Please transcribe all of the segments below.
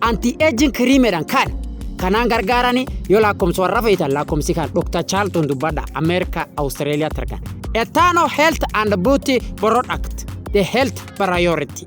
Anti-aging kiriimedhaan kan kanaan gargaaranii yoo lakkoomsa warra feetan lakkoomsi kan Dr. Charlton dubbadha Ameerikaa Awustiraaliyaatti argama. Etano Health and Beauty Product The Health Priority.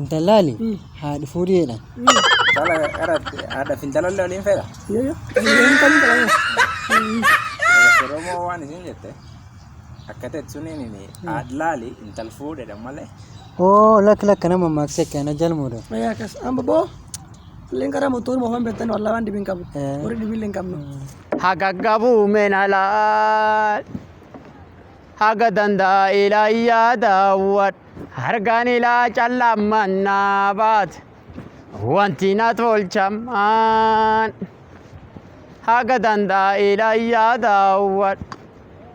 Intallaali haadha fuudhi jedhan. Intala qara haadhaaf intala illee waliin fedha. Yoo yoo. Hin kan hin kan. Oromoo waan isin jette akka ta'e suniin inni haadhaali intala fuudhedha malee. Oo lakka lakka nama maaksee kana jalmuudha. Mayaa kas. Amma boo. Illeen karaa motoon moofan beektan wallaa waan dibiin qabu. Eh. Warri dibiin illee hin qabnu. Hagaggabu menala Haga danda'e laayyaa daawwadhu. Hargaan ilaa callaan mannaa baate. Wanti na tolchamaan. Haga danda'e laayyaa daawwadhu.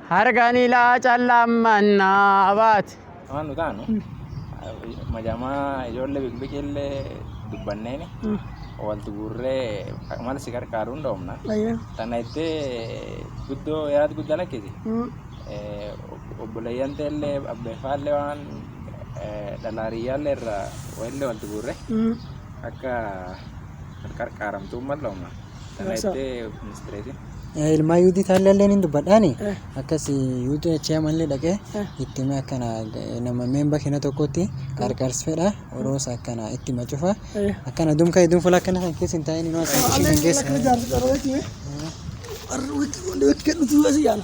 Hargaan ilaa callaan mannaa baate. Waan nu taanu majamaa ijoollee bikbiqiillee dubbanneeni walti guurree mala si gargaaru hin dhoofna. Tana ittee guddoo yaad guddaa lakkisi. Obboleeyyan teellee abbeeffaallee waan dhalaariyyaallee irraa walillee walti guurre akka gargaaramtuun mal dhoofna. Tana Sasa- ittee ministeereetiin. Eh, ilmaa yuudii taallallee ni dubbadhaani Eh. akkas yuudii achii amallee dhaqee Eh. itti himee akkana eh, nama meemba kina tokkotti qarqars fedha oroos akkana itti hima cufa Eh. akkana dumka hedduun fuula akkana kan keessa hin taa'in inuu asii ishee kan keessa. Arra wit wit wit kan dhufu asi yaala.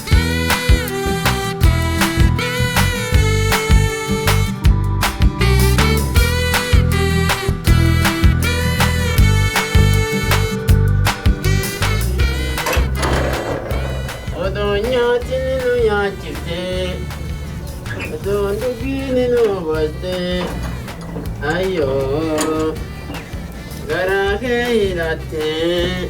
Odoo nyaatni nu nyaachiftee Odoo dhugiini nu obaltee Ayyoo garaa kee hidhattee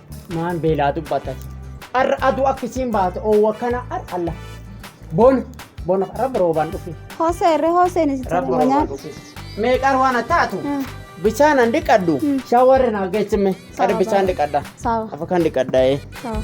Maan beelaa dubbatan. Arra aduu akka isiin baate oowwa akkana ar alla. Bona bona rabbi roobaan dhufe. Hosee irree hoseen itti Rabbi roobaan nyaata. dhufe. Meeqaan waan taatu Mm. bishaan an dhiqadhu Mm. shawarri naa geessime Sawa, qadi bishaan sawa. dhiqadha. Sawa Afa kan dhiqadha ee. sawa.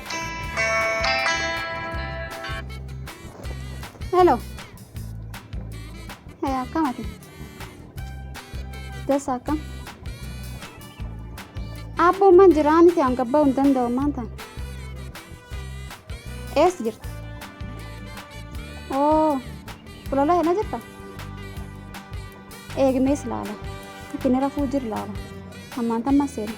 Hello. Hey, akkam ati? Dasa akkam? Abboon man jira ani ta'an gabba'uu hin danda'u maan ta'an. Eessa jirta? Oo, fulola hena jirta? Eegmees laala. Itti ni rafuu jir laala. Ammaan tamma seena.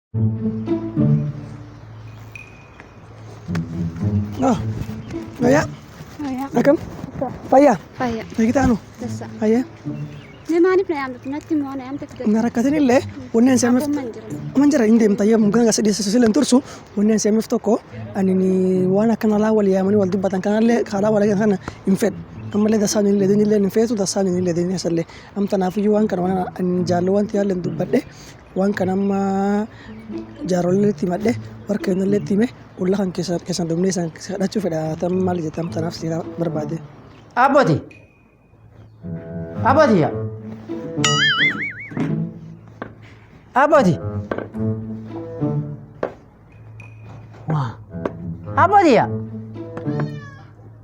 Ah, Fayyaa? Fayyaa. Akkam? Fayyaa? Fayyaa. Fayyitaanu? Dassa. Fayyaa? Mee maaliif na yaamtu? Natti immoo na yaamte fidadha. Na rakkatin illee wanneen seemif Abboon man jira. man jira hin deemta yoo mukaan gasa dhiyeessu sila hin tursu wanneen seemif tokko ani waan akkana laa wal yaamanii wal dubbatan kanallee kaalaa wal kana hin fedhu. Ammallee dasaan hin ledin illee hin feetu dasaan hin ledin illee amtanaafuu waan kana waan ani jaallu wanti yaallee hin dubbadhe Waan kana amma jaarollee itti himadhe warra keenyallee itti hime olla kan keessan keessan dhumnee isaan kadhachuu fedha tan maal jettan tanaaf si barbaade. Abboti. Abboti yaa. Abboti. Waa. Abboo tiyya.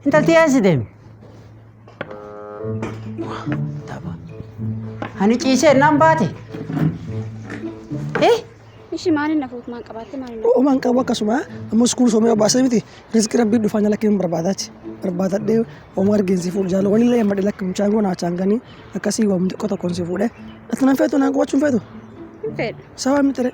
Intalti eessi deemi. Waa. Tapha. Ani ciisee nan baate. Eh? Ishi maaliin na fuutu maan qabaatte maaliin na Uumaan qabu akkasuma ammoo iskuul soomee obaasee miti riskii rabbii dhufaa nyala kennu barbaadaati. Barbaadadhee oomaa argiinsi fuudhu jaalala walillee hin badhe lakki mucaan kun haachaan ganii akkasii waamni xiqqoo tokkoon si fuudhe. Ati nan feetu naan qubachuu hin feetu. hin fedhu. Sabaa miti ree.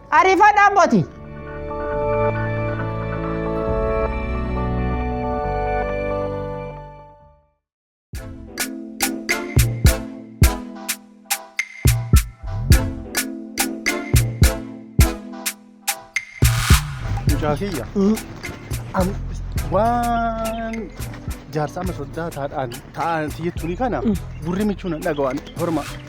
Arifadha abboti. Mucaa kiyya am- waan jaarsa amma soddaa taadhaan ta'an siyyattuuni kana gurri michuun hin dhaga'an horma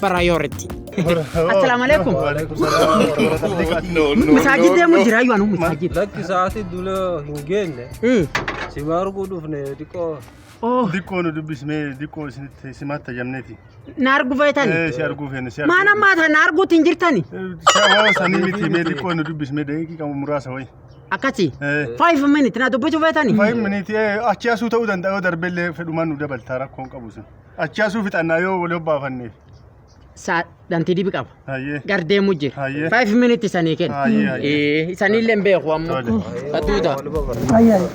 Priority. Assalaamu alaikum. Masaajid deemu jira yoo anu masaajid. Lakki sa'aatii dula hin geenne Hmm. si arguu dhufne xiqqoo Oh, Dikkoo nu dubbismee dikkoo isinitti simaatti ajamneeti. na argu feetani. Si arguu feene si arguu. Maan ammaa tana arguutti hin jirtani. Sababa sanii miti mee dikkoo nu dubbismee deeqii qabu muraasa wayi. Akkasi. Eh. Five minute na dubbisuu feetani. Fayyim miniiti achi asuu ta'uu danda'a yoo darbellee fedhumaan nu dabaltaa rakkoon qabu sun. Achi asuu fixannaa yoo wali obbaafanne. Saa dhantii dibi qaba. Hayyee. Gar deemu jira. Hayyee. Five minutes sanii kenna. Hayyee, hayyee. Eh, Sanillee hin beeku ammoo. Tole. Atuuta. Ayyaan.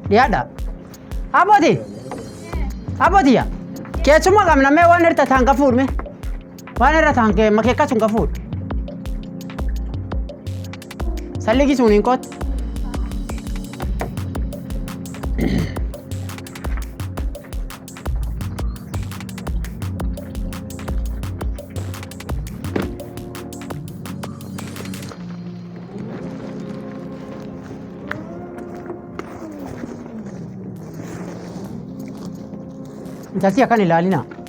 Dhiyaadha. Abooti. Abooti yaa. Keessuma qabna mee waan hirta taan qafuudhme. Waan irra taan kee makee akkas hin qafuut. Salligi sun hin qoot. Intalti akkan ilaalina.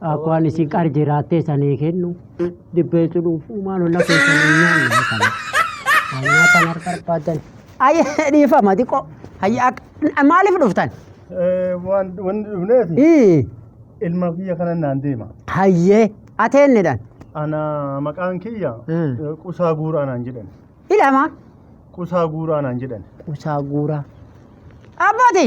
Akka waan isin qar jiraattee sanii kennu dibbee jedhuuf uumaan olla keessanii nyaanne kana. Hanyyaa kan harka barbaadan. Ayya dhiifama xiqqoo. Hayya akka maaliif dhuftan? Waan wanni dhufneef Ii ilma kiyya kana naan deema. hayyee ateennidhan. Ana maqaan kiyya Mm. eh, qusaa guuraa naan jedhan. Ilama Qusaa guuraa naan jedhan. qusaa guuraa. Abbati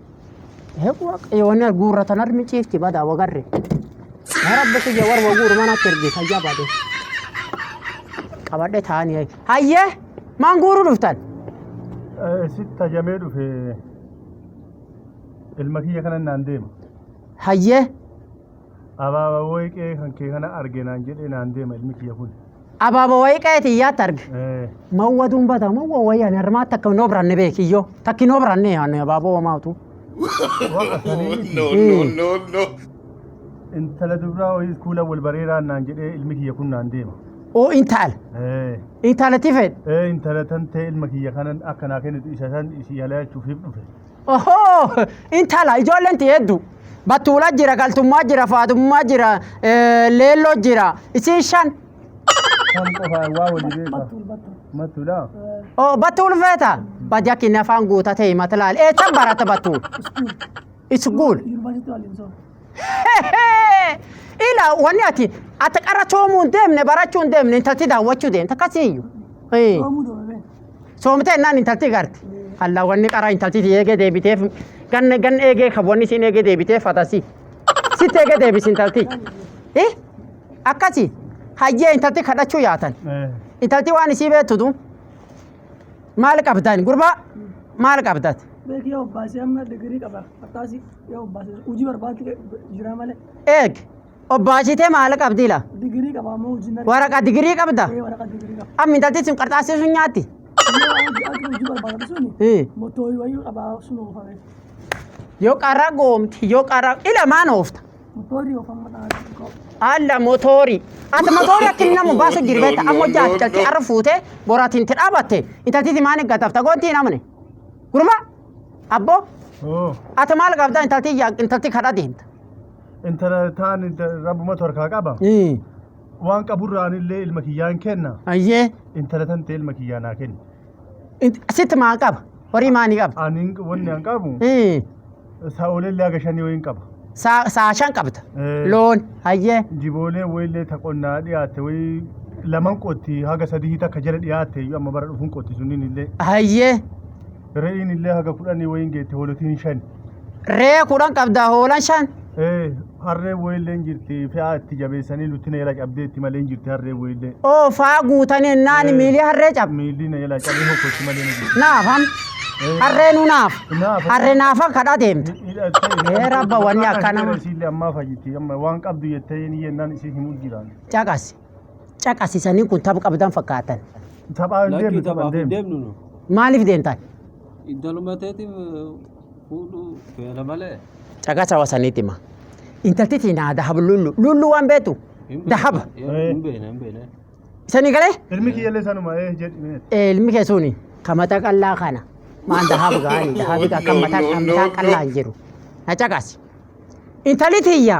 Yoona guurra tan armi ciifti badaa wagarre. Yaa rabbi kiyya warra guuru mana akka ergee fayyaa baadee. Qabadhe taa'anii hayyee maan guuruu dhuftan. Sitti tajamee dhufe ilma kiyya kanan naan deema. Hayyee Abaaba wayii qe'ee kan kee kana arge naan jedhee naan deema ilmi kiyya kun. Abaaba wayii qe'ee tiyyaatti arge. Eh, Mawwa dumbata mawwa wayii ani harmaatti akka hin obranne beeki iyyoo. Takki hin obranne ani abaaboo homaatu. Waqa sanii miti. No, no, no, no. Intala dubraa wayii kuula wal bareeraan naan jedhee ilmi kiyya kun naan deema. Oo intaala. Eh, Intaala tifeedha. eh, intala tan ta'e ilma kiyya kanan akka naa kennitu isa san isii halaachuuf hif dhufe. Ohoo! Intala ijoolleen tee hedduu. Battuula jira, galtummaa jira, faadummaa jira, eh, leelloo jira. Isiin shan. Kan qofaa waa wali beeka. Matula. Oh, battuul feeta. Bajakkin afaan guutatee himata laal. Eessa barata battuul? Iskuul. Yuunivarsiitii waliin soo. Ila wanni ati ati qarra coomuu hin deemne barachuu hin deemne intalti daawwachuu deemte akkasiiyyu. Ee. Yoomuu dhoofame. Soomtee innaan intalti garte. Allaa wanni qaraa intalti si eegee deebiteef ganna ganna eegee kan wanni siin eegee deebiteef fatasi. Sitti eegee deebisi intalti. Eh? Akkasi hayyee intalti kadhachuu yaatan. Intalti waan isii beektutu maal qabdan gurbaa maal qabdat? Beeki yoo obbaasee amma digirii qaba. Akkaasi yoo obbaasee hojii barbaadde jira malee. Eeg Obbaasitee maal qabdi la? Digirii qaba ammoo hojiin argatu. Waraqaa digirii qabda? Ee waraqaa digirii qaba. Amma intalti sun qarxaassee sun nyaatti? Yoo hojii argatu hojii barbaadatu suni Hii. mottoo wayii qaba sun oofame. Yoo qarra goomte yoo qarra ila maan oofta? Mottoorii oofama dhaala xiqqoo. Alla motoori. Ati motoori akka inni namu baasu jiru beekta amma hojii ati calqii arra fuutee boraatiin itti dhaabatte intalti maan eeggatafta goontii hin amne. Gurba abboo ati maal qabda intalti yaa intalti kadhaa deemta. intala taan rabbumatu harkaa qaba Ii. waan qaburraan illee ilma kiyyaan kenna Ayyee. intala tan ta'e ilma kiyyaa naa kenna Int- Sitti maa qaba? Horii maa ni qaba? ani wanni an qabu Ii. sa'oolee illee haga shanii wayiin qaba Saa saa shan qabda. Eh. Loon. Ayyee. jiboolee wayillee ta qonnaa dhiyaatte wayii laman qotti haga sadii takka jala dhiyaatte iyyuu amma bara dhufuun qotti sunniin illee Ayyee. re'iin illee haga kudhanii wayiin geette hoolotiin shan Re'ee kudhan qabdaa hoolan shan. Ee, harree wayilleen jirti fe'aa itti jabeessanii nutti na jala cabdee itti malee hin jirti harree wayillee. Oo faa guutanii naani Ee. miilii harree cab. Miilli na jala cabee hokkotti malee na jirti. Naaf ham. Ee. Harree nu naaf. Naaf. Harree naafa kadhaa deemta. Ee, rabba wanni akkana. Isiillee ammaa fayyiti amma waan qabdu jettee ni jennaan isii himuu jiraan. Caqasi. caqasisanii kun tapha qabdan fakkaatan. Taphaa hin Lakkii deemnu taphaa taphaaf hin hin deemnu. deemnu nu. Maaliif deemtan? Intaluma teetiif fuudhuu feena malee. Caqasa wasaniitti hima. Intalti tiinaa dahab lullu. Lullu waan beektu. Hin beekne. Dahab. Yeroo Hin beekne hin beekne. Isanii galee? Ilmi kiyyallee sanuma ee jedhi mee. Eh, ilmi kee suni kan mataa qal'aa kana maan dahaab gaani dahaab kan mataa kan mataa qal'aa hin jiru na caqasi intali tiyya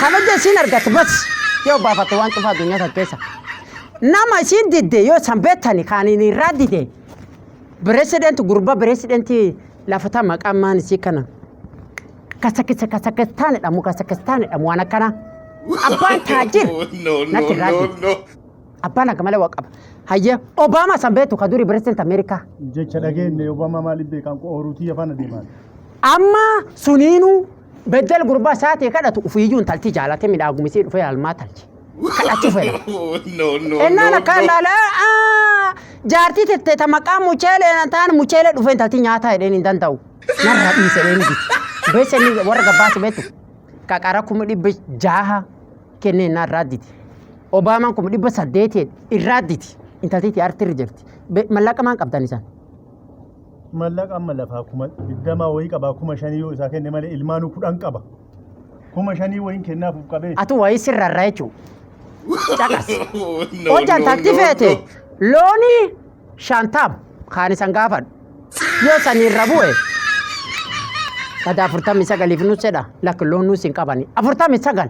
Kabaja isiin argatte bas yoo baafatte waan cufaa addunyaa kan keessa. Nama isiin didde yoo san beektani kaaniin irraa dide pireesidenti gurbaa pireesidenti lafata maqaan maan isii kana. Kasakisa kasakistaan jedhamu kasakistaan jedhamu waan akkanaa. Abbaan taajir natti irraa dide. Abbaan akka malee waa qaba. Hayyee Obaamaa san beektu ka durii pireesidenti Ameerikaa. jecha dhageenye Obama maaliif beekaan ooruutii afaan adeemaan. Amma suniinuu Beddel gurbaa saatii kadhatu ufiiyyuu intalti jaalate midhaagumisii dhufee halmaa talche. Kadhachuu fedha. no, no, Ennaan no, akkaan no. laala "Aa, jaartii tette ta maqaa mucheelee na taan mucheelee dhufee intalti nyaataa jedheen hin danda'u. Narraa dhiise jedheen biti. Beessa inni warra gabbaasi beetu. Qaqara kuma dhibba jaaha kennee innaa irraa diti. Obaamaan kuma dhibba saddeetiin irraa diti. Intaltiitti artirri jirti. Be- Mallaqa maan qabdan isaan? Mallaqa amma lafaa kuma digdamaa wayii qabaa kuma shanii yoo isaa kenne malee ilmaanuu kudhan qaba. Kuma shanii wayiin kennaafuuf qabee. Atu wayii sirrarra jechuun. Caqas. Hojjan takti feete loonii shantam kaan isan gaafadhu. Yoo saniirra bu'e gada afurtamii sagaliif nus jedha lakki loon nus hin qabani. Afurtamii sagal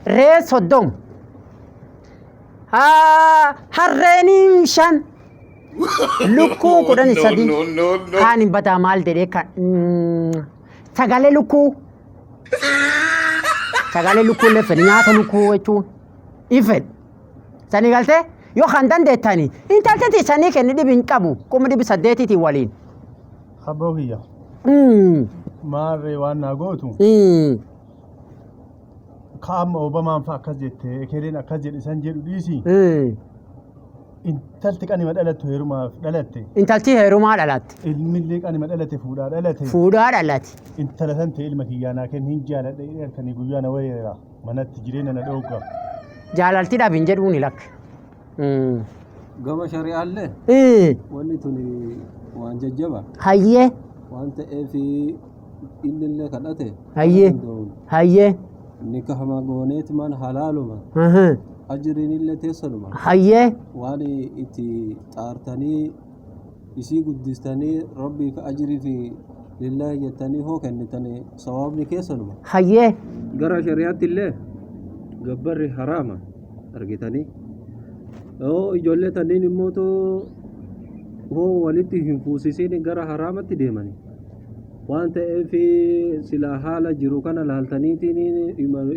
ree soddom harreen shan Lukkuu No, kudhan no, sadii. no, no, no. Kaan hin bataa maal jedhee kan. Mm, Sagalee lukkuu. Sagalee lukkuu illee fedhe nyaata lukkuu jechuun hin fedhe. Sanii galtee yoo kan dandeettani intalteetii sanii kenni dhibi hin qabu kuma dhibi saddeetiitii waliin. Abboo kiyya. Mm, Maarree waan naa gootu. mm. Kaa'amma Obamaan fa'a akkas jette. Ekeleen akkas jedhe san jedhu dhiisi. Mm. Intalti qanima dhalattu heerumaaf dhalatte. Intalti heerumaa dhalatte. Ilmillee qanima dhalate fuudhaa dhalate. Fuudhaa dhalate. Intala san ta'e ilma kiyyaa naa kenni hin jaaladha jedhee halkanii guyyaa na wareera. Manatti jireenya na dhoogga. Jaalalti dhabi hin jedhuuni lakk. Gama shari'aallee Ee wanni tuni waan jajjaba hayyee waan ta'eef Inni illee kadhate. Hayyee. Danda'uun. Hayyee. Nika hamaa gooneeti maan halaaluma. Aha. Ajiriin illee teessanuma. Hayyee. Waan itti xaartanii isii guddistanii rabbii fi ajirii fi lillaahi jettanii hoo kennitanii sawaabni keessanuma. Hayyee. Gara shari'aatti illee gabbarri haraama argitanii. Yoo ijoollee tanniin immoo too hoo walitti hin fuusisiin gara haraamatti deemanii. Waan ta'eef silaa haala jiru kana laaltaniitiin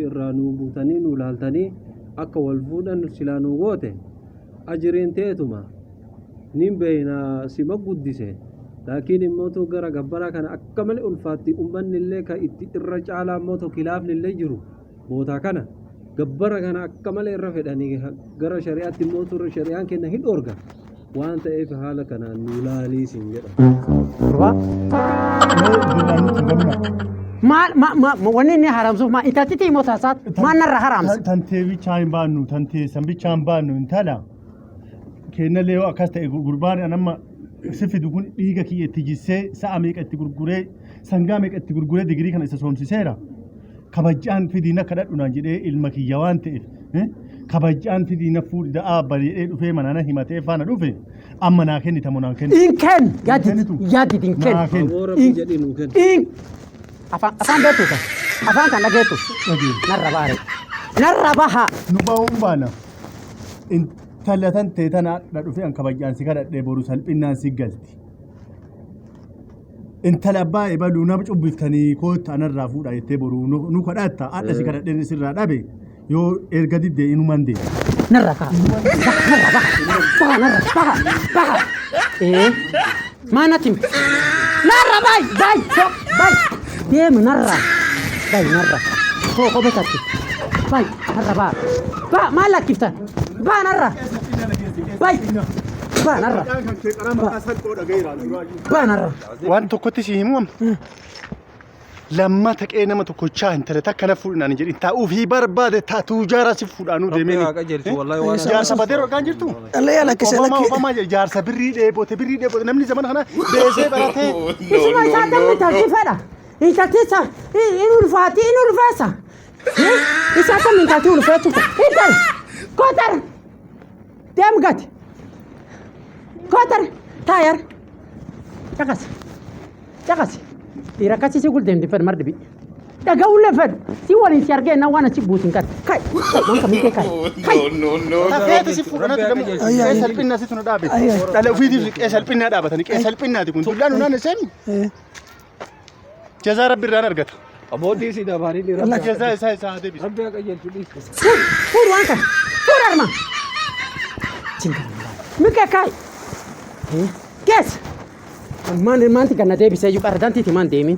irraa nuu buutanii nuu laaltanii akka wal fuudhan silaa nuu goote ajiriin teetuma nin beeyna sima guddise laakiin immootu gara gabbaraa kana akka malee ulfaatti ummanni illee ka itti irra caalaa immootu kilaafni illee jiru bootaa kana gabbara kana akka malee irra fedhanii gara shari'aatti immoo turre shari'aan kenna hin dhoorga waan ta'eef haala kanaan nu ilaalii siin jedha. Durbaa mee dinaan nutti ganna. Maal ma ma ma- wanni inni haramsuuf maa intaltitti immoo taasaat maal narra haramsa. Tantee bichaa hin baannu tantee san bichaa hin baannu intala kenna leeyoo akkas ta'e gurbaan an amma si fidu kun dhiiga kiyya itti jissee sa'a meeqa itti gurguree sangaa meeqa itti gurguree digirii kana isa soomsiseera. kabajaan fidii na kadhadhu naan jedhee ilma kiyya waan ta'eef eh, kabajaan fidii na fuudhi da'aa bari jedhee dhufee mana na himatee faana dhufe amma naa kennita moo naan kennitu? Hin kenn yaadit kennitu? yaadit hin kenn. Naa kenni. Aboo rabbi jedhi nuu kenna. Hin afaan afaan beektu kan afaan kan dhageessu Dhageessu. narra baare narra baha nu ba'uun baana intala tan tee tana dha dhufee an kabajaan si kadhadhee boru salphinnaan si galti intala abbaa ebaluu nama cubbiftanii kootta anarraa fuudha jettee boru nu kadhaatta haadha si kadhadheen isirraa dhabe yoo erga didde inuman dee. Narra kaa. Narra baha. Baha narra baha. Baha. Ee. Maa natti himte? Narra bayi bayi bayi. Deemi narra. Bayi narra. Koo kobe tatti. Bayi narra baha. Baha maal lakkiftan? Baha narra. Bayi. Baha narra. Baha. baanarra. Waan tokkotti si himu amma. Lammata qe'ee nama tokkochaa hin tale takka na fuudhinaan hin jedhin taa'uuf hii barbaade taatuu jaara si fuudhaanuu Rabbi deemeen. haa qajeelchu, wallahi waan Jaarsa haasoftu. badee rogaan jirtu. Dhalli yaa lakkisa Obamaa lakkisa. Obamaa jedhe jaarsa birrii dheebote birrii dheebote namni zamana kana beesee baratee. Isuma isaa dammi taasii fedha. Intalticha in ulfaati in ulfeessa. Isaa dammi intalti ulfeessu. Intal kotara. Deem gati. Kootar taayar. Caqasi. Caqasi. Dhiira akkasii si guldeen diffan mar dhibi. Dhaga'uu lafan si waliin si argee na waan achi buusin kan. Kai. Waan kamii kee kai. Kai. Tafeeti si fuudhanati gamu qe'ee salphinnaa situ na dhaabe. Dhala ofiitiif qe'ee salphinnaa dhaabatanii qe'ee salphinnaati kun. Dullaan hunaan iseen Jazaa rabbi irraan argata. Aboodii si dabaanii ni rabbi. Jazaa isaa isaa haa deebisu. Rabbi haa qajeelchu dhiisu. Fuur fuur waan kana fuur arma. Mika kaay. Geessa. Maan maanti ganna deebisee iyyuu qardantiiti maan deemin.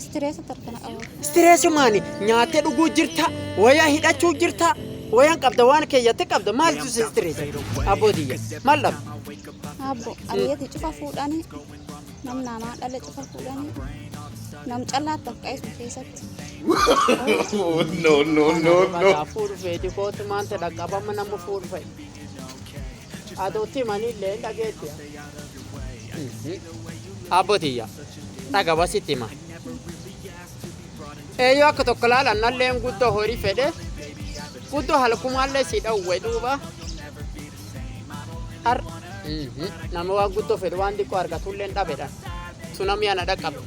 Istireesa tarkana qabu. Istireesumaani nyaattee dhuguu jirta, wayaa hidhachuu jirta, wayaan qabda waan keeyyattee qabda maaltu si istireesa? Abboo tiyya maal dhabu? Abbo abiyyati cufa fuudhani nam namaa dhala cufa fuudhani nam callaa taqqaesu keessatti. no, no, no, no. Fuudhu feeti kootu maanta dhaqqabama nama fuudhu fa'i. Adootti himaniillee hin dhageetti. Abboo tiyya. Dhaga basitti hima. Eeyyoo akka tokko laalan nalleen guddoo horii fedhe. Guddoo halkumaallee si dhawwe duuba. Har. Nama waan guddoo fedhu waan xiqqoo argatullee hin dhabedha. Sunamii ana dhaqqabe.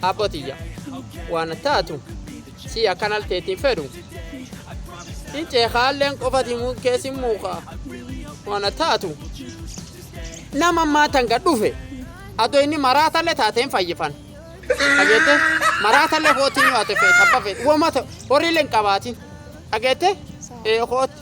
Abboo tiyya. Waan taatu. Sii akkan al teetiin fedhu hin ceekaa illeen qofa himuun kees hin muukaa waan taatu nama maatan gad dhufe adoo inni maraatallee taateen fayyifan dhageette maraatallee kootiin yoo ate feet abba feet wamata horiillee hin qabaatin dhageette ee kootti.